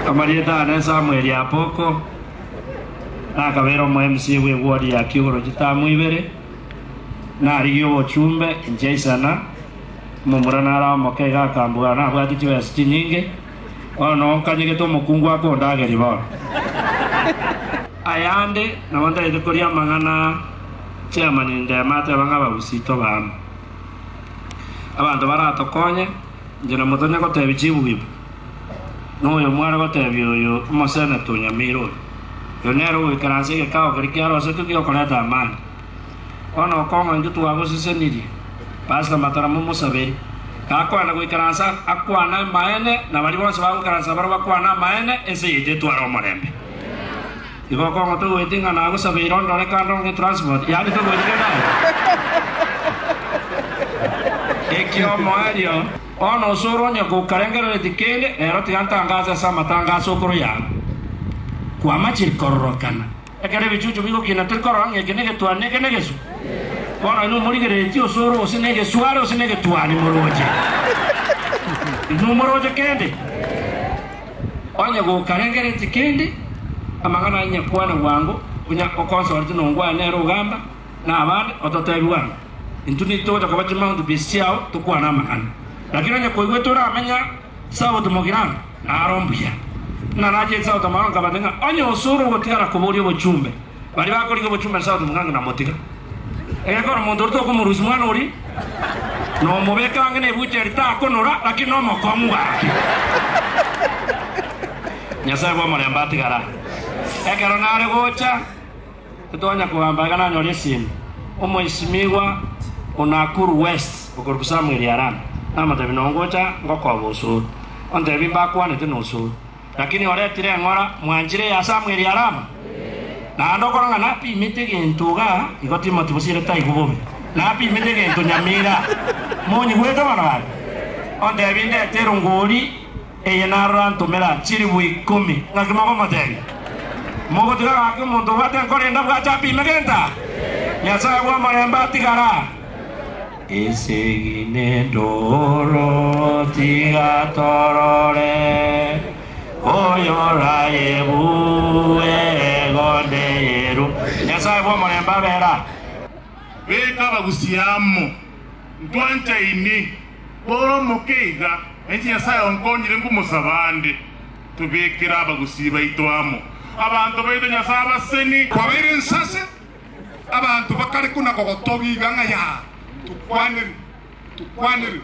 Amarieta aane, Samweli, Apoko, na akabera omoemisia bw'egwori ya kiugoro chitamu ibere, na arigie obochumbe inchia isana. Omomura nare omoke iga akambugana, nabwate chibesa chinyinge, bono nkanyegete omokungu ake ondagerie bono. Ayande, nabo ntaete koria amang'ana aa. Chairman Ndema ateba ng'a abagusii tobe amo, abanto baratokonye. Inche namotanya goteebia chibuibu, na oyo mware goteebia oyo omosenete onyameire oyo, Oyo nere ogoikaransa egekao keria kiarosetwe gi'okoreta amani. Bono okong'a intwe twagosesenirie, Pastor Matara momosaberi. Gakogenda goikaransa akwane amaene, na baria bonsi bagoikaransa barabwo bakwane amaene, ense yaito etware omorembe. Igo okong'o togoeti ng'a nagosabeire ondore kando onge transport, yaani togoeti kende aye. Ekiomo erio, bono osore onye kokarengereretie kende, rero tiga ntangaase ase amatangaso okoro yao. Kwamachire kororokana. Ekero ebichuchu bigokina tikorora ng'a eke negetuani na eke negesu. Bono inwe morigereretie osore gose negesuare gose negetuani moroche. Inwe moroche kende. Onye gokarengeretie kende, amang'ana aye nyakwane bwango, buna okonsorete nongwane nere ogamba nabande, ototebi bwango. Intwe nitogocha koba chimaundu bie chiao, tokwane amang'ana. Lakini onye koigwete oramenya Sauti mogirano, naro mbuya. Buna nache Sauti amao nkabate ng'a, Onye osore ogotigara koboria obochumbe, Baria bakorigia obochumba nse aoteba, Ng'ake namotiga. Egekora omonto ore tokomorusia omwana oria, na omobeke ang'e ne ebuchari takonora, lakini nomokong'u gaki. Nyasae bw'omorembe atigara. Ekero nare gocha, titonya kogamba iga nanyore esimi. Omoisimigwa o Nakuru West okorokwa Samuel Arana, namotebi, Nongocha ngokoba osoro. Ontebi mbakwanete nosoro. Lakini oretire eng'ora mwanchire ya Samueli ya Rama? Naende okorora ng'a napimete gento iga igo Timothy bosire taigwe bobe, napimete gento nyamira. Monyigwete barabwo? Ontebie ndete erongori eye narora ntomera chilibu ikomi. Ng'aki mokomotebia? Mogotiga gaki omonto obwate enkoro ende abwache apime gento aa? Nyasae bw'omorembe atigara. Esegi n'entooro tiga torore, Oyorayebue ego ndeyeru. Nyasae bw'omorembe abere aa. Beka abagusia amo, ntwanchaine. Tore omoke iga, nainche Nyasae onkonyire nkomosaba ande. Tobekere abagusia baito amo, abanto baito Nyasae abaseni. Kwabaire ensase, Abanto bakare kona gogotogiga ng'a Yaa, tokwanire, tokwanire.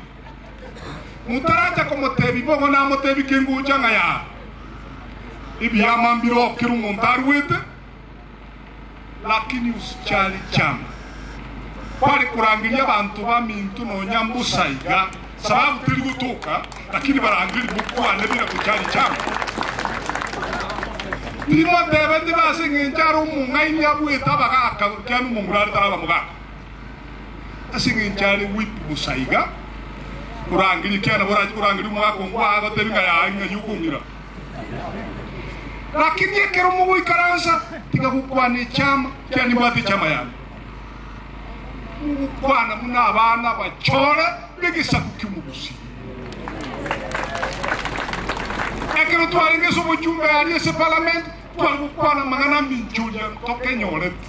Motaracha komotebia bogo namotebie kengocha ng'a Yaa, ebiama mbire oo kera omonto aruete, lakini usicharichama. Kware korangeria abanto baminto nonya mbosa iga. Sababu teri gotoka, lakini barangeri mokwane bire gochari chango. Timotebe tibe ase engencho are omong'aini abuete abagaka kiane omonguru are taraba mogaka. Ase engencho are whip bosa iga orangerie kiane borache korangeria omogaka ong'we agotebi ng'a yaye ng'a yi okong'ira. Lakini ekero mogoikaransa tiga gokwana echama kiane imbwate echama yane. mogokwana buna abana abachore b'egesaku ki'omogusii. Ekero twarenge ase omochunga aria ase Parliament, tware gokwana amang'ana aminchoria ntokenyorete.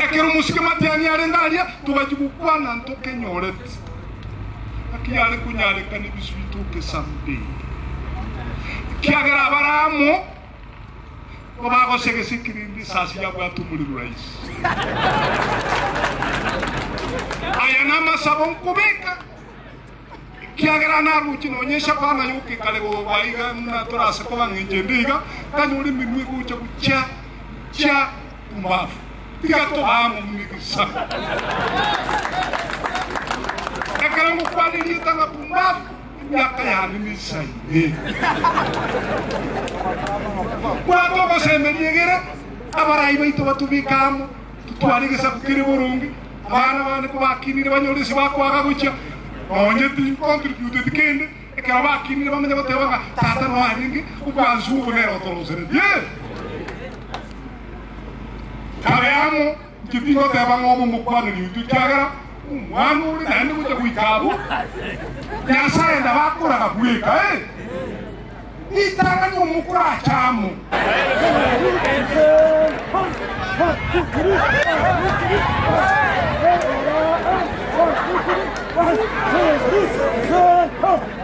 Ekero omosike matiani arenge aria, togachia gokwana ntokenyorete. Naki yare konyarekana ebisu bitoke someday, ekiagera abare amo. Ko bagosia gesikirindi risasi yabwatwe omori Ruraisi. Aya namasabo nkobeka, ekiagera naroche nonya eshabana yokekare goba iga ng'a torase koba ng'encho ende iga, tanyora emerua egocha gochia chia pumbafu. Tiga toba amo buna egesaku. Ekero ngokwana erieta ng'a pumbafu, Emiaka yane n'isa ime. Bwata ogosemeria egere abarai baito batobeke amo, totware egesaku kere boronge, abana bane kobakinire banyore ase bakwaga gochia nonye tincontributeti kende, ekero bakinire bamanye goteba ng'a tata noe arenge, obwansu obo nere otorosereti. Ee! Kabe amo. Inche tingoteba ng'a obo mokwane riutu, ekiagera omwana ore naende gocha goika abwo, Nyasae nabakoraga bweka, ee, ritang'ani omokura ache amo.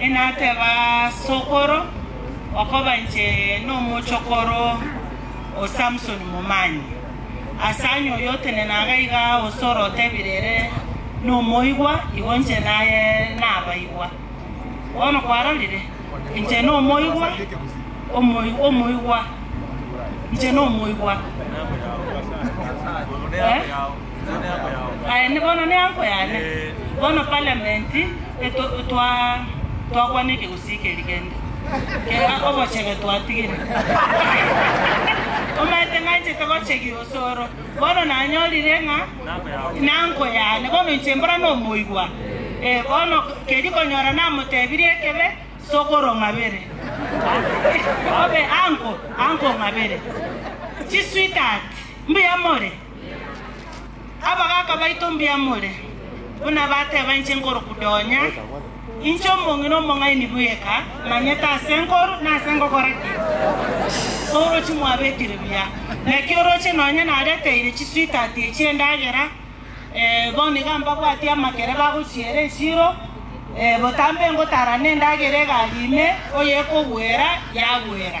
Inateba sokoro, okoba inche nomochokoro o Samsoni Momani, asanye oyotenena iga iga ase orotebire ere nomoigwa, igo inche naye nabaigwa. Bono kwarorire, inche nomoigwa, omoigwa, inche nomoigwa. Aye bono nenko yane. Bono parliament eto twa twakwana ekegusii keri kende kera obochebe twatigire. Omanyete ng'anchete gochegia osoro. Bono nanyorire ng'a nanko yane. Bono inche mbora nomoigwa. Eh bono keri konyora namotebirie ekebe sokoro ng'abere. Obe anko anko ng'abere. Chi sweetheart mbuya more. Abagaaka baito mbiamore, buna bateba inche nkoru kudonya, inche omong'ina omong'aini bweka, manyete aase nkoru, na aase ngokora ki. Oroche mwabekire buya. Naki oroche nonya nareteire chisweetheart echi endagera, eh, bono iga mbabwatie amakere bagochiera esiro, eh, botambe ngotarane endagera egari ime, oyekogwera, yagwera.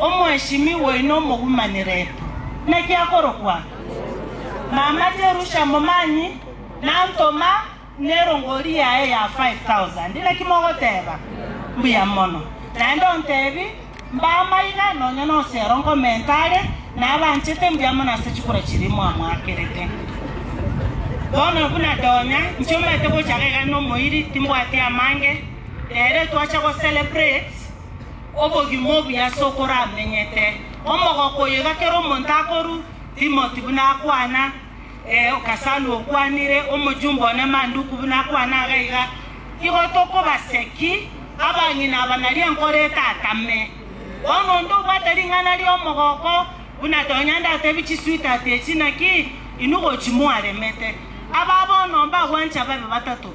Omoeshimi waino omogumaniretu, naki akorokwa? Mama Jerusha momanyi, nantoma nerongori yaye ya five thousand. Naki mogoteba? Mbuya mono. Naende ontebi, Mbama iga, nonya nosero nkomenta are, nabanchete mbuya mono ase chikura chiria mwamoakerete. Bono buna donya inche omanyete gocha iga nomoiri, timbwati amange, nere twacha gocelebrate. Obogima obuya ase okoramenyete. Omogoko oyo iga kera omonto akoru, Timoti buna akwana, ee, Gasalu okwanire, omochumba one Manduku buna akwana iga iga. Igo tokobaseki, abang'ina aba nario enkoro etatame. Bono onde obwate ring'ana ri'omogoko, buna tonya ndatebie chisweetheart echi, naki inwe gochi mwaremete. Aba bono mbagwanche ababe batato.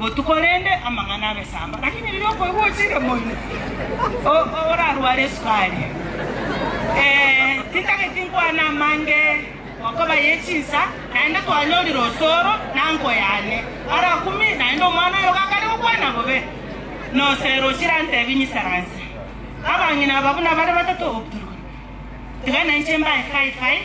Botuko rende amang'ana amesamba, lakini riria okoigwa ochire moino, orarware esukari. Ee, tintageti nkwane amange gokoba ye chinsa, naende twanyorire osoro na nko yane arakumi, naende omwana oye ogakare gokwana bobe, nosere ochirantebi nyisaranse. Abang'ina aba buna bare batato obuturuki, tiga nainche mbae five five.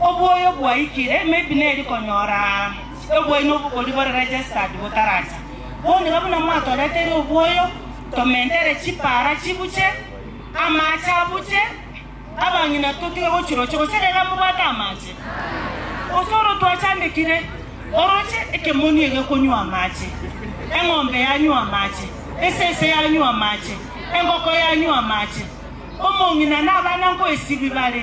Obwoyo bwaikire, maybe neri konyora obwaino obokori bore registered botaracha. Bono iga buna mwatoreteire obwoyo, tomentere chipara chibuche, amache abuche, abang'ina totige gochiroche, gose rero amobwate amache? Gose oro twachandekire oroche ekemoni iga ekonywa amache, eng'ombe yanywa amache, esese yanywa amache, engoko yanywa amache, omong'ina na abana nkoesibibare.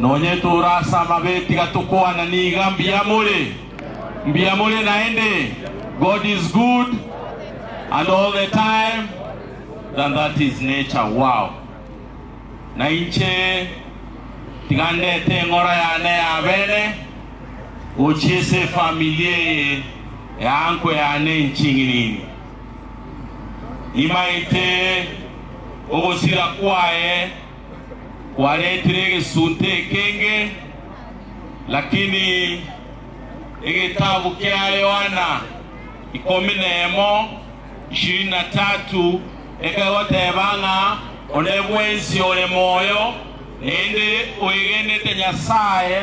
Nonye tore ase amabe tiga tokwana niga mbuya more, mbuya more naende, God is good and all the time than that is nature wow. Na inche tiga ndete eng'ora yane y'abene gochia ase efamili eye eanko yane enching'inini. Nimaete ogosira kwaye. kwaretire egesunte ekenge, lakini egetabu kia Yohana ikomi na emo, ishirini na tatu, ekegoteba ng'a onde bwensi ore moyo, naende oegenete Nyasaye,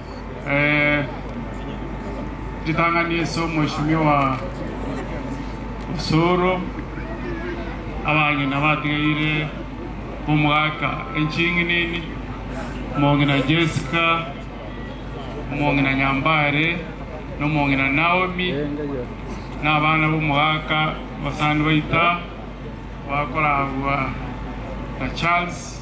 Eh, ritang'ani ase omweshimiwa Osoro, abang'ina batigaire omogaka enching'inini, omong'ina Jessica, omong'ina Nyambare, na omong'ina Naomi, na abana b'omogaka basani baita bakoragwa na Charles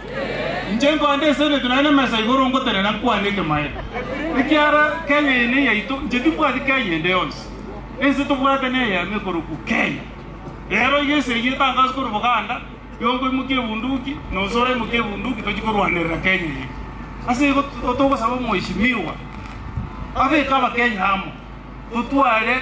Inche nkoande eseneti naye nemesa igoro ngotenena nkwane ekemaene, ekiara Kenya eye neyaito, inche timbwati Kenya ende yonsi, ense tobwate neyemo ekorokwu Kenya. Rero iga esegi etangazwe korwa Buganda, igo nkoimokia ebunduki, nonsi oraimokie ebunduki tochie korwanerera Kenya eye. Ase igo togosaba omweshimiwa abeke abakenya amo, totware.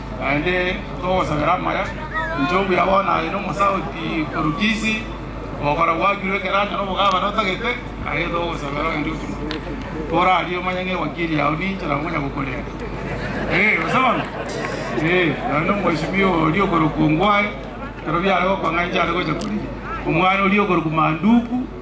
Naende togosabera amaya, inche omuya bono aye n'omosauti korwa Kisii, ogokora gwakirwe ekerancha n'obogavana otagete, aye togosabera ogende otumwe torarie omanye ng'a ewakiri yao ninche nabo ngonya gokorenda. Eeh gose bono? Eeh naende omweshimiwa oria okorokwa Ongwae ekero biare gokwa ng'a inche are gocha korigia omwana oria okorokwa Manduku,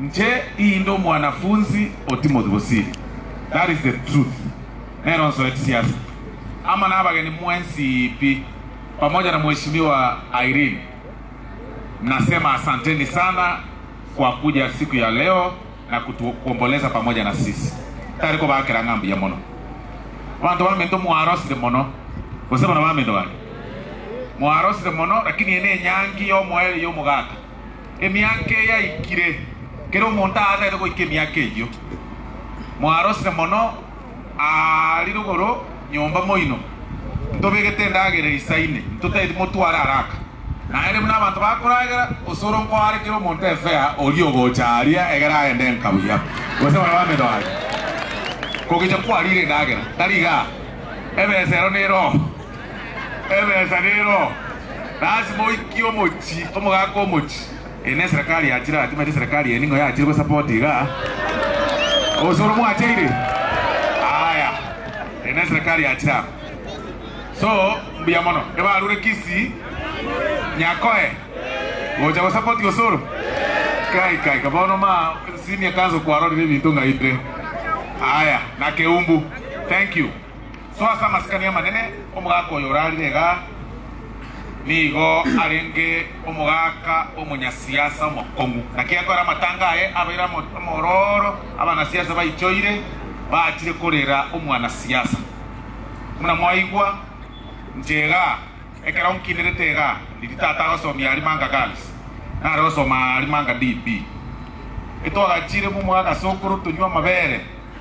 Nche inde omwanafunzi o Timothy bosiri, that is the truth, nero nsoeti siase amo nabageni mwensi pi pamoja na mweshimiwa Irene. Nasema asanteni sana kwa kuja siku ya leo na kutuomboleza pamoja na sisi. Tari kobakera ng'a mbuya mono abanto baminto mwarosire mono gose bono baminto bande mwarosire mono lakini eye nenyangi yomoerio yomogaka. Emiaka eyaikire, kera omonto aatagete goika emiaka eyio, mwarosire mono aari rogoro nyomba moino, ntobegete endagera eisaine, ntotageti motware araka. Naende buna abanto bakoragera, osoro nkoare kera omonto efea oria ogocha aria egere aende enka buya, gose barabwo amedo aye, kogecha kwarire endagera, tari igaa, ebesa ero nerooro. Ebesa neroho. Lasima oikie omochi omogaka omochi. Eye ne serikali yachire atimanyete serikali eye ning'o yachire go support iga. Osoro mwacheire? Aya. Eye ne serikali yachire aba. So mbuya mono. Ebarure Kisii. Nyakoe. Gocha go support osoro. Kai kai ka bono ma senior council kwarorire ebinto ng'aite. Aya. Na Keumbu. Thank you. Soa ase amasikani amanene omogaka oyo orarire iga, nigo arenge omogaka omonyasiasa omokong'u. Naki ekore amatanga aye abeire amororo, abanasiasa baichoire, baachire korera omwanasiasa. Buna mwaigwa, inche iga, ekero nkinirete iga, ndiri tata agosomia Arimanga Girls, nare gosoma Arimanga DB. Intwagachiire momwaka sokoro tonywe amabere.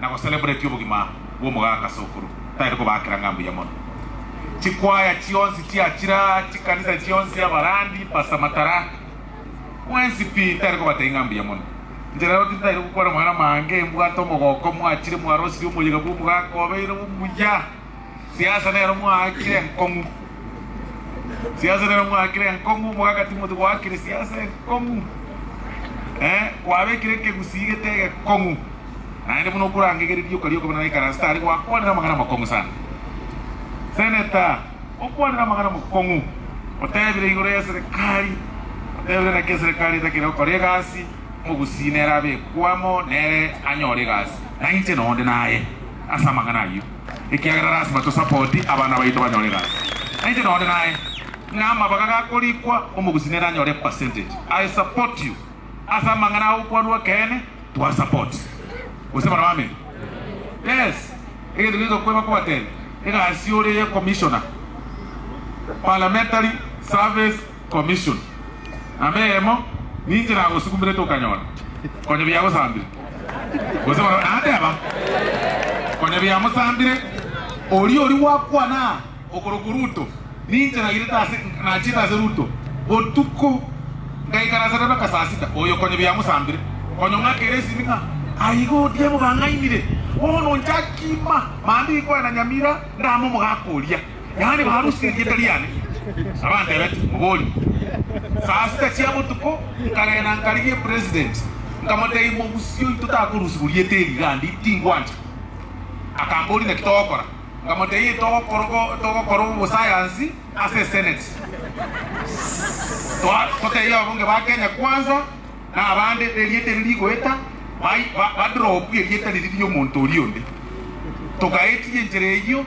na gocelebratia obogima bw'omogaka ase okuru, taire kobaakera ng'a mbuya mono. Chikwaya chionsi chiachira, chikanisa chionsi, abarandi, pasa, matara, mwensi pi taire kobatebia ng'a mbuya mono. Inche rero tintaire gokwana amang'ana amange, mbwate omogoko, mwachire, mwarosirie omoyega bw'omogaka obeire omuya. Siasa nero mwaakire enkong'u. Siasa nero mwaakire enkong'u, mogaaka timoti goakire siasa enkong'u. Eh, kwabekire ekegusii gete egekong'u. Naende buna okorangegera erioka rioka buna naikaranse tari gwakwanera amang'ana amakong'u sana. Seneta, okwanera amang'ana amakong'u, otebire igoro y'eserekari, otebire naki eserekari etakere gokora egasi, omogusii nere abekwe amo nere anyore egasi. Nainche nonde naye. ase amang'ana ayio, ekiagera lasima tosape odi abana baito banyore egasi. Nainche nonde naye, ng'a amabaga gakorikwa omogusi nere anyore epercentage. I support you ase amang'ana aa okwarwa ekeene twa support gose barabwo amen. Yes, egento keria tokoeba kobatebia, egasi ore ye commissioner, parliamentary service Commission. Namba eyemo ninche nagosukumerete okanyora konya biagosambire gose barabwo nateba konya biamosambire oria oria gwakwana okorokwo Ruto ninche nairete ase nachiete ase Ruto botuko ngaikara ase Rebecca saa sita oyo konya biamosambire konya ong'akere esimi ng'a aiga Odiemo bang'ainire bono nchakima mambia ikwena Nyamira ndame omogaka oria. Yaani barusia erieta riane na bandebete, Mobori, saa sita chia botuko nkagenda nkarigia President, nkamoteebia, Mogusi oito takorusibwa rieta eri gandi tingwancha. Akamboria, Naki togokora? Nkamoteebia, Togokora obosayansi ase Senate, toteebie ababunge ba Kenya Kwanza na abande erieta eri rigoeta, badropie erieta riria ri'omonto oria onde, togaetirie enchera eyio.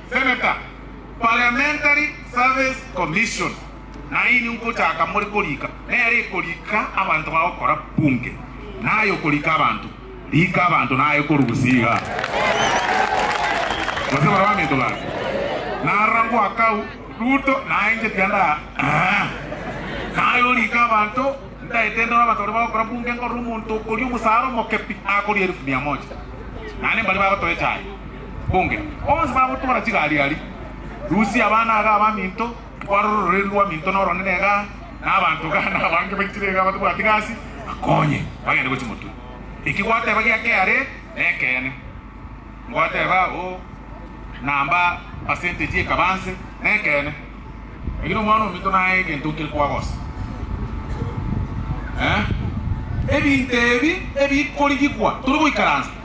Seneta, Parliamentary Service Commission, nainwe nkochaka more korika, nere ekorika abanto bagokora bunge, naye okorika abanto, rika abanto naye korusia iga gose barabwo abanto bake. Narora ngoakau Ruto naye inche tiga nda aa, naye orika abanto, ntaete ndore abanto baria bagokora bunge nkorora omonto okoria omosara omoke pi akoria elifu mia moja, naende mbaria bagotoa echae. Mbunge. Bonsi bagotwora chigariari, Rusia abana iga abaminto, kwarora ororeri rw'aminto noronene iga, na abanto iga, na abange baichire iga abatabwati gasi, bakonye, bagende gochia motwe. Eki gwateba gia keare nekeene. Ngwateba, o, namba percentage ekaba nse, nekeene. Lakini omwana ominto naye egento nkere kwagosa. Eeh. Ebinto ebi ebikorigiigwa, tore goikaransa,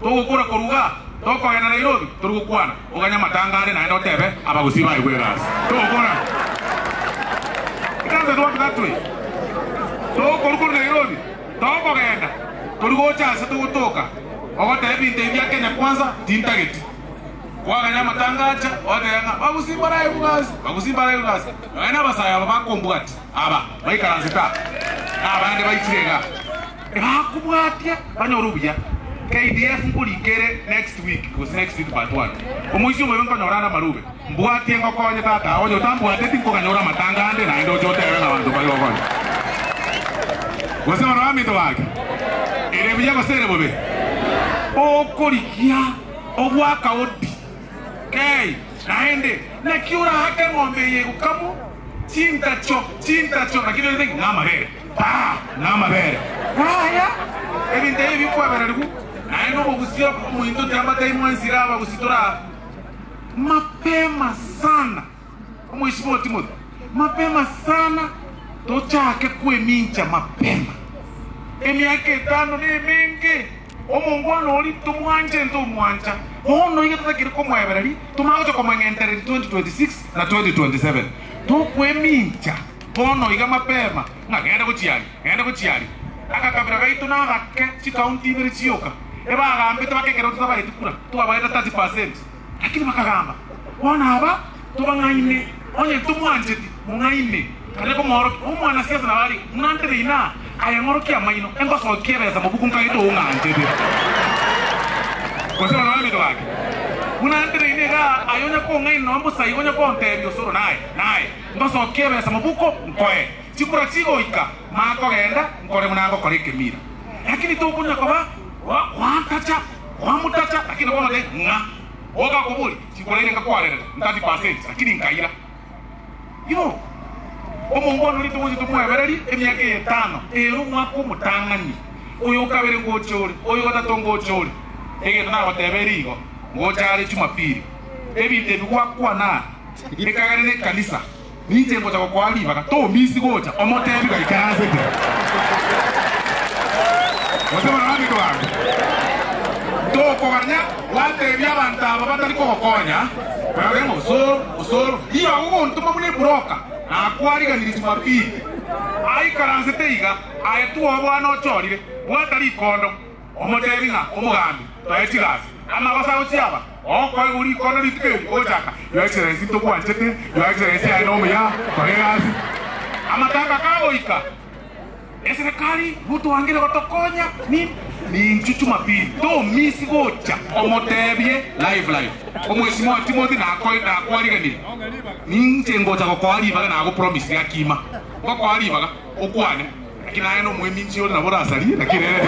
Togokura korwa iga tokogenda Nairobi, tori gokwana, oganye amatangare naende otebe abagusii baigwe egasi. Togokora. It doesn't work that way. Togokorwa korwa Nairobi, tokogenda, tori gocha ase togotoka ogoteba ebinto ebi bia Kenya Kwanza tintageti. Kwaganya amatanga acha, otebe ng'a abagusii mbaraigwe egasi, abagusii mbaraigwe egasi. Nonya na abasae aba bakombugati aba baikaransete aa, na abande baichire igaa. Nakobwatia banyore obuya. KDF nkorinka ere next week gose next week part one. Omoisia omobe nkonyora are amarube. Mbwatie ngokonye tata ao onye otambwateti nkoganyora amatanga ande naende oche otebe ng'a abanto mbare gokonya. Gose barabwo baminto bake. Ere buya gose ere bobe? Okorigia ogwaka odi. Ee, naende, naki oraake eng'ombe eye egokamwa? Chintacho, chintacho, naki rende ng'a namabere. Taa, namabere. Yaya, ebinto ebi bikwebererigwe, naende omogusia omointo tiamataimwe ensira abagusitore aa mapema sana. Omoisibwa Timothy, Mapema sana tochake kwemincha mapema. Emiaka etano nemenge. Omongwana oria tomwanchete omwancha. Bono iga totakeire komoebera ri tomanya gocha komong'entereri 2026 na 2027. Tokwemincha bono iga mapema ng'a genda gochia aria, genda gochia aria. Agakabira gaito nagake chikaunti ibere chioka. Ebagambete bake ekero totabaeti kura, twabaete 30%. Lakini bakagamba, Bono aba tobang'aine, onye tomwancheti, mong'aine. Naende komoorokia, Omwanasiasa nabo are buna ntere inaa, aye ng'orokia amaino, engosokia ebesa mobuku nkagete oung'anchete, gose bana b'aminto bake buna ntere inaa igaa, aye onya kong'aina nonya mosaiba onya konteebia osoro naye, naye ngosokia ebesa mobuko nkoe chikura chigoika makogenda, nkore buna ngokora ekemira. Lakini tokonya koba goantacha. Kwamutacha, lakini bono de ng'a boga akobori chikoraire ngakwarerera ntati percent lakini nkaira. Iro omongwana oria togocha tomwebererie emiaka eye etano ere omwaka omotang'ani, oyo okabere ngoche ore, oyo ogotato ngoche ore. Egento nagoteba ere igo, ngocha are Jumapili, ebinto ebi gwakwana are, ekagera nekanisa. Ninche ngocha gokoa ribaga, tominsi gocha omotebi gaikaransete, gose barabanigo bange. Tokoganya gwatebia abanto aba batari kogokonya, barore ng'a osoro, osoro. Ribaga ogontoma buna eburoka, nakwariganirie Jumapili, aikaransete iga, aye twoo bono ochorire, bwata rikondo, omotebi ng'a, Omogambi, toe chigasi, amagosa gochia aba. Okoegwa rikondo rituko eri gochaka, yoechera ense togwanchete, yoechera ense yaye nomuya, kore egasi. Amatanga kagoika, eserekari gotwangire gotokonya, ni ninchu Jumapili tomisi gocha. Omotebie live live omwesimwa Timothy nakoe nakwariganirie, ninche ngocha gokoa ribaga nago promise riakima ngokoa ribaga. Okwane, lakini aye nomoeminsie oria nabo orasarie, lakini ere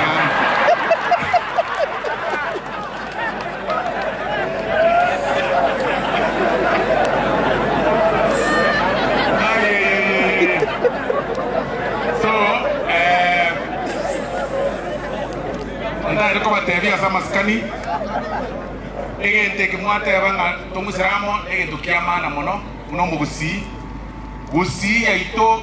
niaanekobatiaria ase amasikani, egento eke mwateba ng'a tomoisramo egento kiamana mono buna omogusii, gusii yaito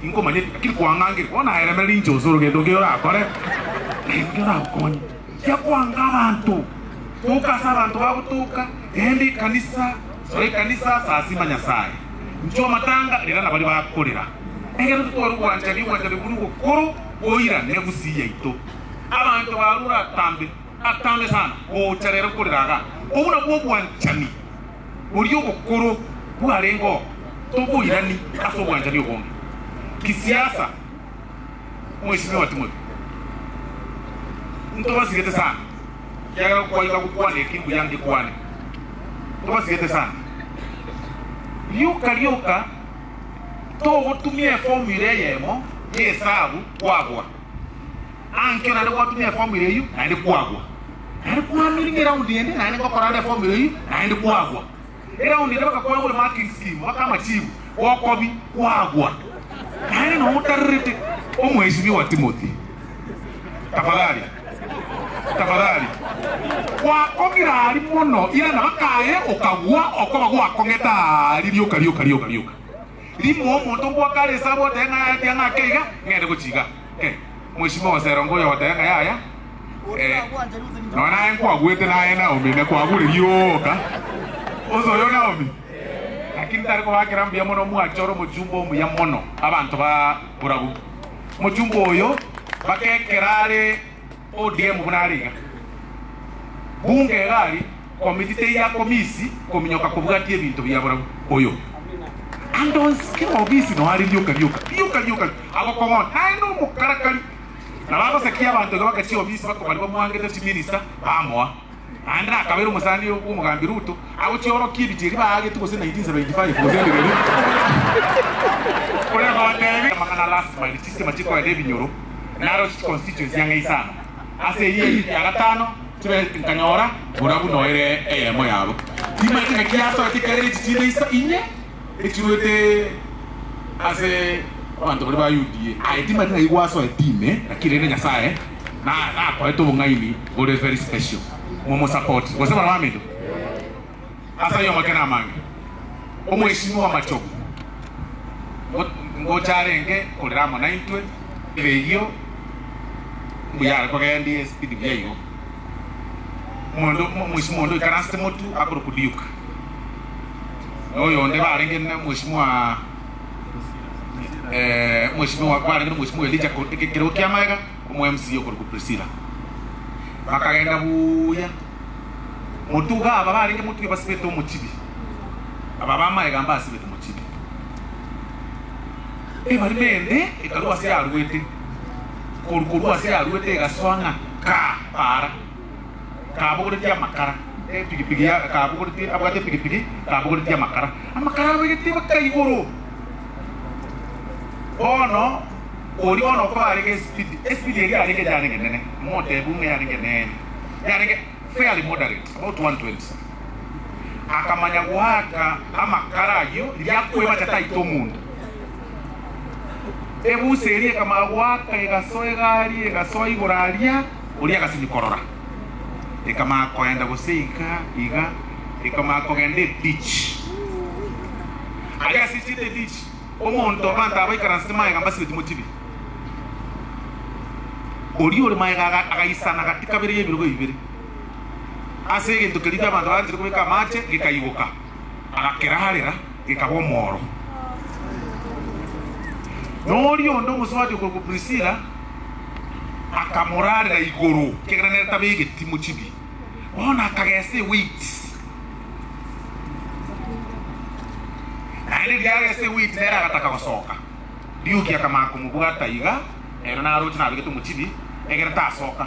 Tinkomanya eki akiri koang'angire. Bono naeremere ninche gose orogendo ngeyo orakore, na inki oragokonye? Inkia koanga abanto, toka ase abanto bagotoka, genda ekanisa, sora ekanisa, sasima Nyasae, inchwa amatanga, rera nabari bakorera. Ekero totware obwanchani, obwanchani bwo nibwo bokoro goira negusi yaito. Abanto baro oratambe, atambe sana, gocha rero korera iga. Obwo nabwo obwanchani. oria obokoro bwarenge oo toboirani ase obwanchani obonge kisiasa. Mweshimiwa Timothy, ntobasigete sana kiagera gokwaika gokwana eki mbuya ngekwane. Ntobasigete sana. Rioka rioka togotumia eformula eyemo y'ehesabu kwabwa. Aa, nkio naende gwatumia eformula eyio, naende kwagwa. Naende kwamiringa eround ende, naende ngokora ande eformula eyio, naende kwagwa. Eround ende baka kwagure marking scheme, baka amachibu, bokobi, kwagwa. Naende noo otarerete, Omweshimiwa wa Timothy, tafadhali, tafadhali. Gwakong'ira aria mono, irana bakaye okagwa, okoba gwakong'eta aria rioka, rioka, rioka, rioka. Rimo omonto ngoakare esabu oteba ng'a yaya tiang'a ake iga, ng'ende gochia iga. Eh, mweshimiwa oseronge oyo ogoteba ng'a yaya, eh, nonya naye nkwaguete naye Naomi ne kwagureria ooka. Onsi oyo Naomi? Lakini tari kobakera mbuya mono omwache ore omochumba omuya mono abanto ba borabu. Omochumba oyo, baka ekero are. ODM buna are iga. Bunge egari komiti teiya komisi kominyoka kobwatia ebinto biya barau oyo andonsi kera obisi no are rioka rioka rioka rioka agokong'ona naende omokarakari nabo agosekia abanto iga bagachia obisi bakobari bamwangete chiminista bamoa Naende akabera omosani bw'omogambi Ruto agochia orokia ebichie eria baagetwe gose 1975 gose ende keria korende kobateebia amang'ana a last mile chistima chikoenda ebinyoro naroche chiconstituency ang'e isano ase eyio eyio ya gatano chibere nkanyora bora buna oere eyemo yabo. Timaete ng'aki yasoete ekiagera echi chinde inye. etuete ase abanto baria ba Yudea. Aye timari ng'ai gwasoa etime, naki rende Nyasaye nakorete obong'aini bore very special momosapote gose barabwo amendo ase ayio amake namange. Omweshimiwa w'amachogu ngocha arenge korera amo naintwe, erio mbuya are kogendia esipidi buya igo. Omweshimiwa onde oikaransete Motu akorokwa Duke. noyo onde barenge na mweshimiwa eh, mweshimiwa barenge na mweshimiwa Elija ko- eke- ekero kia maega omo MC okorokwa Priscilla bakagenda buya motuga aba barenge motuge basibete omochibi aba bamaega mba asibete mochibi ebari mende ekarua ase yarwete koru korua ase yarwete egaswa ng'a ka para kabogoretie amakara, epigipigi ya kabogoretie abwate epigipigi kabogoretie amakara, amakara abegetie baka igoro. Bono oria bono okoba arenge esipidi, esipidi eria yarenge yarenge nene, motebi buna yarenge nene, yarenge fairly moderate about 120, akamanya goaka amakara ayio riria akoebacha taita omonto, ebusa eria ekamanya goaka egasoa egari egasoa igoro aria. Oria agasimia korora, ekamanya koenda gose iga iga, ekamanya kogenda ebichi. Aria ase chieta ebichi, omonto abanto aba baikaransete magega mbasibeti mochibiri. Oria ore magega aga agaisana gati kabere y'ebirogo ebibere ase egento keria abanto baganchete kobeka amache, gekaigoka, agakerarera. Gekaba omoro. Na oria onde omosubati okorokwa Prisila akamorarera igoro, ekiagera nere tabe egetimo chibi. Bono akagesa ewiti, naende riria agesa ewiti nere agataka gosoka, Liuki akamanya komobwata iga, ere naroche nabegete omochibi, ekiagera tasoka.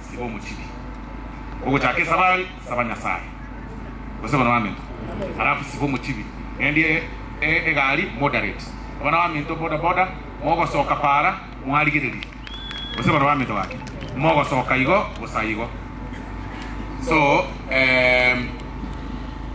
Siba omochili. Ogochaka esabari, saba Nyasaye. Gose bana baminto. Alafu siba omochili. Gendie egari moderate. Abana baminto boda boda mogosoka para mwarigererie. Gose bana baminto gaki. Mogosoka igo bosa igo. So, eeh.